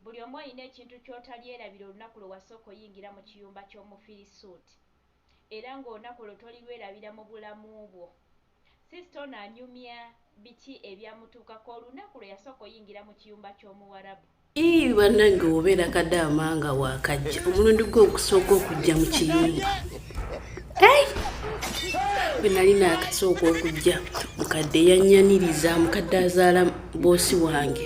Buli omu olina ekintu ky'otalyerabira olunaku lwe wasooka oyingira mu kiyumba ky'Omufirisuuti, era ng'olunaku olwo tolirwerabira mu bulamu bwo. Siisita ono anyumya biki ebyamutuukako olunaku lwe yasooka oyingira mu kiyumba ky'Omuwarabu. Yii banange wobeera kadaama nga wakajja omulundi gwo okusooka okujja mu kiyumba bwe nali nakasooka okujja mukadde yanyaniriza mukadde azaala boosi wange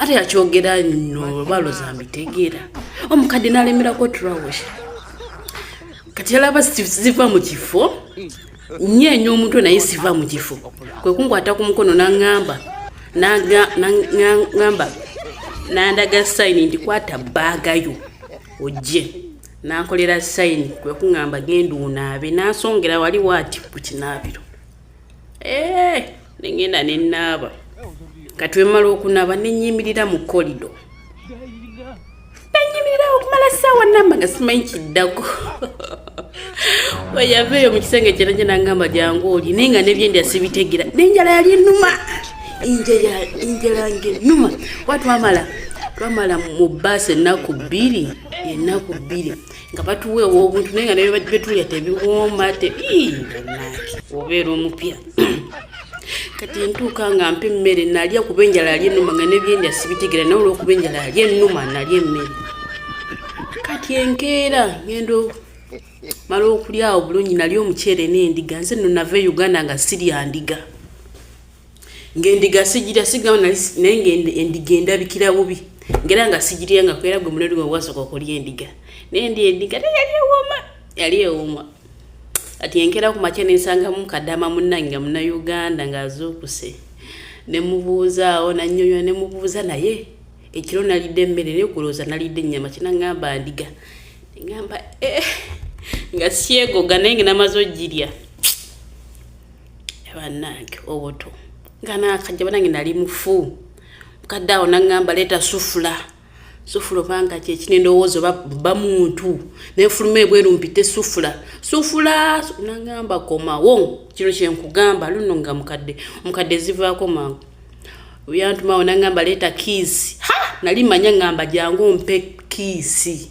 ate yakyogera no lwalo zambitegeera omukadde nalemerako trawesha kati yalaba ziva mu kifo nyeenya omutwe naye siva mu kifo kwe kunkwata ku mukono naŋŋamba naŋŋamba nandaga sayini nti kwata bbaaga yo ojje nankolera sayini kwe kuŋŋamba genda onaabe nansongera wali waati ku kinaabiro eeh nengenda nenaaba katwemala okunaba nenyimirira mu kolido nenyimirira okumala saawa namba nga simanyi kiddako weyaveeyo mu kisenge kyera gye nangamba jangu oli naye nga nebyendya sibitegera nenjala yali enuma enjala ngenuma wa twamala twamala mu baasi ennaku bbiri ennaku bbiri nga batuwa ew'obuntu naye nga naye betulya tebiwooma te banange obeera omupya kati ntuuka nga mpa emmere nalya kuba enjala alya ennuma nga nebyendya sibitegera naye olwokuba enjala alya ennuma nalya emmere kati enkeera ngendo mala okulyawo bulungi nalya omuceere n'endiga nze no nava e uganda nga sirya ndiga ng'endiga sijirya sigamba nali naye ng'endiga endabikira bubi ngera nga sijirya nga kwera gwe mulero gwe wasooka okulya endiga naye ndi endiga naye yali ewooma yali ewooma ati enkera ku makya nensangamu kadama munnange nga munauganda ng'azuukuse ne mubuuzaawo nanyonyola ne mubuuza naye ekiro nalidde emmere naye kulooza nalidde ennyama kinangamba ndiga ngamba eh, nga syegoga naye ngenamaze ogirya bannange obuto nga nakajja banange nali mufu mukadde awo naŋŋamba leeta sufula sufula obanga kyekina endowooza oba ba muntu nenfuluma ebweru mpite sufula sufula naŋŋamba komawo kino kyenkugamba luno nga mukadde omukadde ezivaako mangu yantumawo naŋŋamba leeta kiisi ha nali manya ŋŋamba jangu mpe kiisi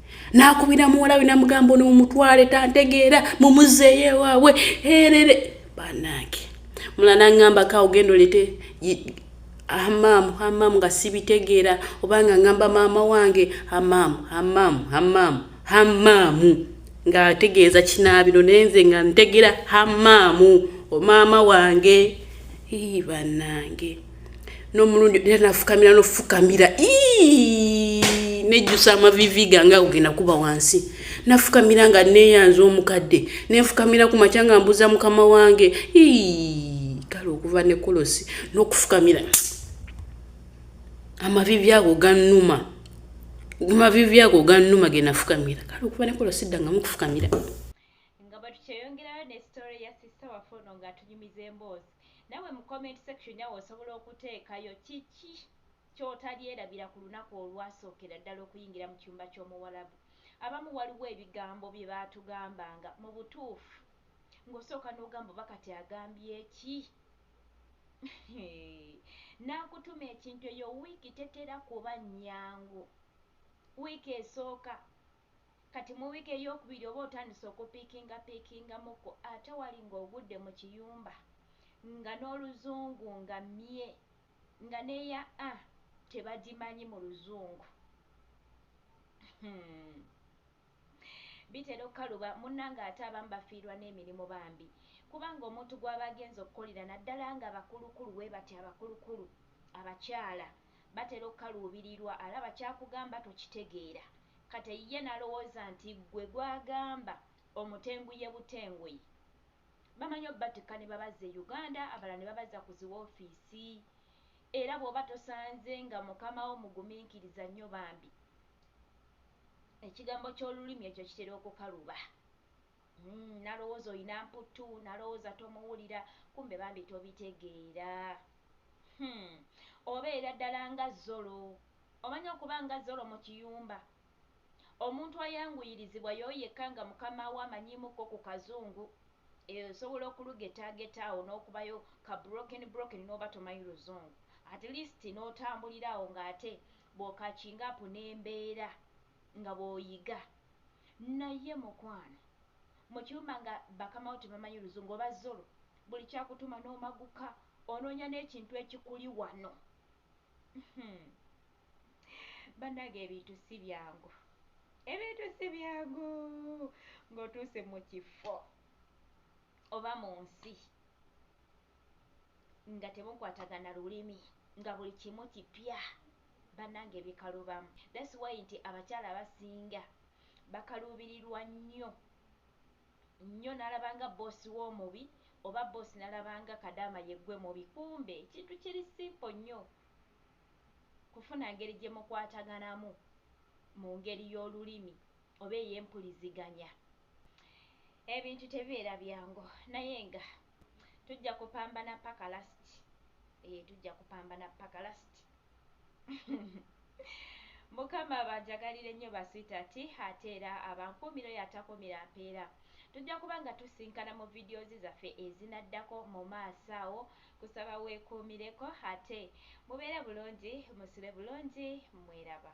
n'akubira muwala we namugamba ono mumutwale tantegeera mumuzeeyo ewaabwe erere banange mula nangamba ka ogenda olete amamu amamu nga sibitegeera obanga ngamba maama wange amamu amamu amamu amamu ng'ategeeza kinaabiro naye nze nga ntegera amamu omaama wange ii banange n'omulundi era nafukamira nofukamira nejjusa amavivi gange agogenda kuba wansi nafukamira nga neyanza omukadde nenfukamira ku makya nga mbuza mukama wange kale okuva ne kolosi n'okufukamira amavivi ago gannuma amavivi ago gannuma ge nafukamira kale okuva ne kolosi ddangamu okufukamira nga batukyeyongerayo ne sitore ya sisita waffe ono ng'atunyumiza emboozi Nawe mu comment section awo osobola okuteekayo kiki kyotalyerabira ku lunaku olwasookera ddala okuyingira mu kyumba ky'omuwarabu. Abamu waliwo ebigambo bye baatugambanga mu butuufu ng'osooka n'ogamba oba kati agambye ki? Hee n'akutuma ekintu eyo wiiki tetera kuba nnyangu. Wiiki esooka. Kati mu week eyokubiri oba otandise okupikinga pikingamuko ate wali nga ogudde mu kiyumba nga noluzungu nga mye nga ne ya a tebagimanyi mu luzungu humm bitera okukaluba munange ate abamu bafiirwa nemirimu bambi kubanga omuntu gwaba agenze okukolera naddala nga bakulukulu webatyo abakulukulu abakyala. batera okukaluubirirwa alaba ky'akugamba tokitegeera kate ye n'alowooza nti ggwe gw'agamba omutenguye butenguyi. Bamanyi obatikka ne babazza e Uganda abalala ne babazza ku zi woofiisi era bw'oba tosanze nga mukama wo mugumiikiriza nnyo bambi ekigambo ky'olulimi ekyo kitera okukaluba. Uhmm nalowoza oyina mputtu nalowoza tomuwulira kumbe bambi tobitegeera humm obeera ddala nga zolo omanyi okuba nga zolo mukiyumba omuntu ayanguyirizibwa yoyo yekka nga mukama we amanyimu ko ku kazungu eeh osobola okulugetageta awo nokubayo ka broken broken noba tomanyi luzungu at least notambulira awo nga ate bwo catching up nembeera. nga bwoyiga naye mukwano mukiuma nga bakamawo tebamanyi luzungu oba zolo buli kyakutuma nomaguka ononya nekintu ekikuli wano uhmm banage ebintu sibyangu ebintu sibyangu nga otuuse mukifo oba munsi nga temukwatagana lulimi nga buli kimu kipya banange bikalubamu that's why nti abakyala abasinga bakaluubirirwa nnyo nnyo nalabanga boosi w'omubi oba boosi nalabanga kadaama yeggwe mubi kumbe ekintu kiri simpo nnyo kufuna ngeri gye mukwataganamu mu ngeri y'olulimi oba ey'empuliziganya ebintu tebibeera byangu naye nga Tujja kupambana paka last. Eh tujja kupambana paka last. Mukama abajagalire nnyo ba sweetheart ate era abankuumira oyo atakuumira mpeera. Tujja kuba nga tusinkana mu videos zaffe ezinaddako mu maaso awo. Kusaba weekuumireko ate mubeere bulungi, musule bulungi mweraba.